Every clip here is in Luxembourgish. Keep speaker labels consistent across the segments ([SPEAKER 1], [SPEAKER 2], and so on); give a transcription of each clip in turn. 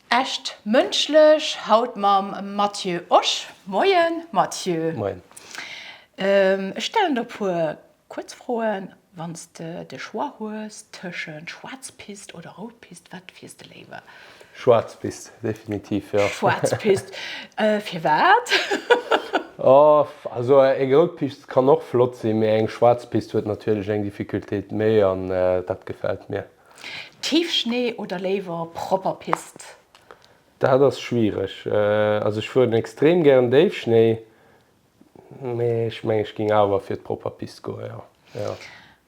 [SPEAKER 1] Echt Mënschlech haut mam Matthieu Osch. Moien Matthieu. Moien. Ech stellen der e puer kuerz Froen. Wann s de de Choix hues tëschent schwaarz Pist oder rout Pist, wat fiers de léiwer? Schwaarz Pist,
[SPEAKER 2] definitiv, jo. Schwaarz Pist.
[SPEAKER 1] Firwat? Oh,
[SPEAKER 2] also eng rout Pist kann och flott sinn, mee eng schwaarz Pist huet natierlech eng Difficultéit méi an dat gefält mir. Tiefschnee
[SPEAKER 1] oder léiwer propper Piste? Dat ass
[SPEAKER 2] schwiereg. Also ech fueren extrem gären Déifschnéi, mee ech mengen ech géing awer fir d'propper Piste goen, jo.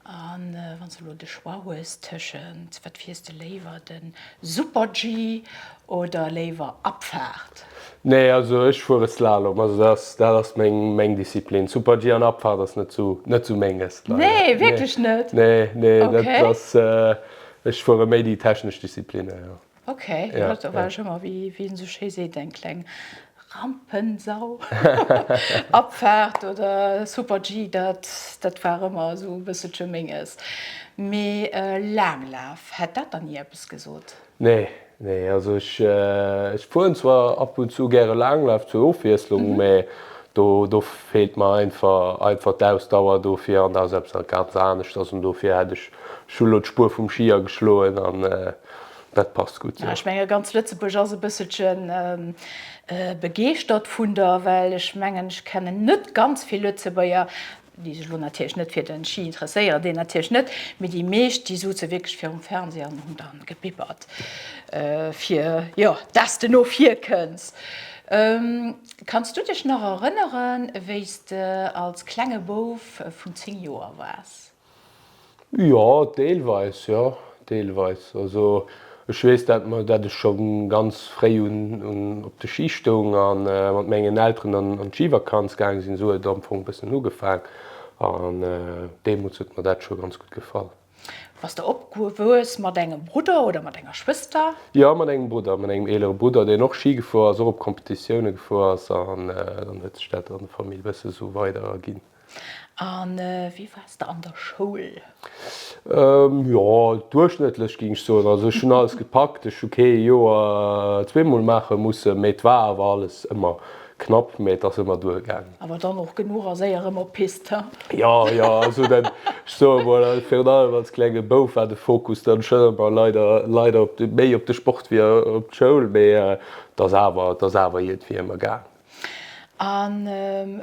[SPEAKER 2] A
[SPEAKER 1] wann s de elo de Choix hues tëschent, wat fiers de léiwer, de Super-G Oder léiwer Abfahrt? Nee, also
[SPEAKER 2] ech fuere Slalom, also dat ass dat ass meng meng Disziplin. Super-G an Abfahrt ass net sou net sou menges, leider. Nee, wierklech
[SPEAKER 1] net? Nee, nee, dat Okay.
[SPEAKER 2] ass
[SPEAKER 1] ech fuere
[SPEAKER 2] méi déi technesch Disziplinnen, jo. Okay, jo, Ja, da
[SPEAKER 1] war ech ëmmer,
[SPEAKER 2] wéi
[SPEAKER 1] wéi een esou schéi seet, eng kleng Rampensau. Abfahrt oder Super-G, dat dat war ëmmer esou e bësselche menges. Mee Laanglaf, hätt dat dann dir eppes gesot? Nee, nee,
[SPEAKER 2] also ech fueren zwar ab und zu gäre Laanglaaf zur Ofwiesslung, mä do feelt mer einfach d'Ausdauer dofir an dat ass eppes ganz anescht ass un dofir hätt ech elo scho d'Spuer vum Ski ageschloen an dat passt gutt. Ech menge ganz Lëtzebuerg
[SPEAKER 1] ass e bësselche begeeschtert vun der, well ech mengen ech kennen net ganz vill Lëtzebuerger, déi sech elo natierlech net fir den Ski interesséieren, deen natierlech net, mee déi meescht, déi souze wierklech virum Fernseh an hunn dann gebibbert fir jo dass de no vir kënns. Kanns du dech nach erënneren wéis de als klenge Bouf vun 10 Joer wars? Jo,
[SPEAKER 2] deelweis, jo, deelweis. Also ech weess dat mer, dat ech scho ganz fréi un un op de Ski stoung a mat mengen Elteren an an d'Skivakanz gaang sinn. Esou huet et am Fong e bëssen ugefaang an deemools huet mer dat scho ganz gutt gefall. Bass de
[SPEAKER 1] opgewuess mat engem Brudder oder mat enger Schwëster? Jo, mat engem Brudder,
[SPEAKER 2] mat engem eelere Brudder, deen och Ski gefuer ass, och op Competitioune gefuer ass an dann huet sech dat an der Famill e bësse sou weider erginn. A
[SPEAKER 1] wéi waars de an der Schoul?
[SPEAKER 2] Jo, duerchschnëttlech géing ech soen. Also ech hunn alles gepackt, ech hu kee Joer zweemol maache mussen, mä et war awer alles ëmmer knapp, mä et ass ëmmer duergaangen. Awer dann och genuch a
[SPEAKER 1] séier rëm op d'Pist, he? Jo, jo,
[SPEAKER 2] also dat, ech soe mol, virun allem als klenge Bouf war de Fokus dann schonn ëmmer leider, leider op de, méi op de Sport wéi op d'Schoul, mä et ass awer, et ass awer iergendwéi ëmmer gaangen. A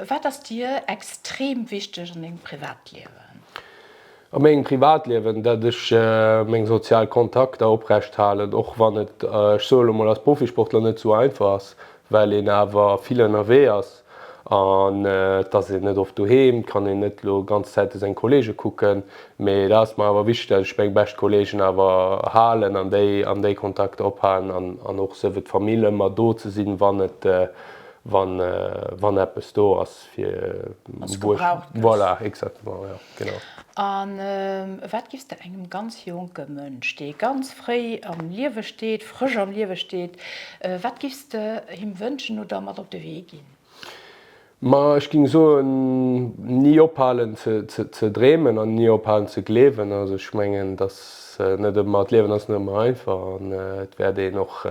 [SPEAKER 1] wat ass dir extrem wichteg an dengem Privatliewen?
[SPEAKER 2] A mengem Privatliewen, datt ech meng sozial Kontakter oprecht halen, och wann et, ech soe lo mol, als Profisportler net esou einfach ass, well een awer vill ënnerwee ass an et ass een net oft doheem, et kann een net lo ganz Zäite seng Kollege kucken. Mee da ass mer awer wichteg, datt ech meng bescht Kollegen awer halen an déi an déi Kontakter ophalen an an och souwéi d'Famill ëmmer do ze sinn, wann et wann wann eppes do ass fir Wann s de gebraucht gëss. Voilà, exactement, jo, genau. A
[SPEAKER 1] wat giffs de engem ganz jonke Mënsch, dee ganz fréi am Liewe steet, frësch am Liewe steet, wat giffs de him wënschen oder mat op de Wee ginn? Ma
[SPEAKER 2] ech ging soen, ni ophalen ze dreemen an ni ophalen ze gleewen. Also ech mengen, dass net ëmmer, d'Liewen ass net ëmmer einfach an et wäert een och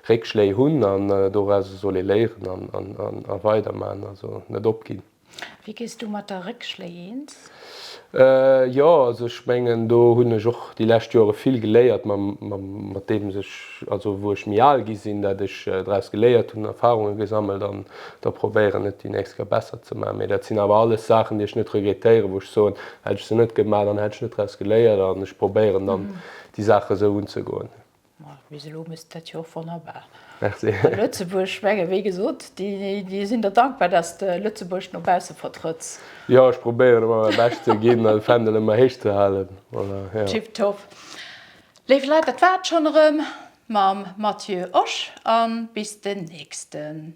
[SPEAKER 2] Réckschléi hunn an dorauser soll ee léieren a weiderman, also net opginn. Wéi gees du
[SPEAKER 1] mat der Réckschléi eens?
[SPEAKER 2] Jo, also ech mengen do hunn ech och déi lescht Joere vill geléiert mat deem sech, also wou ech méi al gi sinn, dat ech draus geléiert hunn, Erfarunge gesammelt an da probéieren et déi nächst Kéier besser ze maachen. Mee dat sinn awer alles Saachen déi ech net regrettéieren, wou ech soen, hätt ech se net gemat, dann hätt ech net draus geléiert an ech probéieren dann déi Saache sou unzegoen. Bis elo
[SPEAKER 1] misst dat jo och wonnerbar a
[SPEAKER 2] Lëtzebuerg schwängen.
[SPEAKER 1] Wéi gesot, déi sinn der dankbar, datt s de Lëtzebuerg no bausse vertrëtts. Jo, ech probéieren
[SPEAKER 2] ëmmer mäi Bescht ze ginn an de Fändel ëmmer héich ze halen. Tip top.
[SPEAKER 1] Léif Leit, dat war et schonn erëm mam Mathieu Osch a bis den nächsten.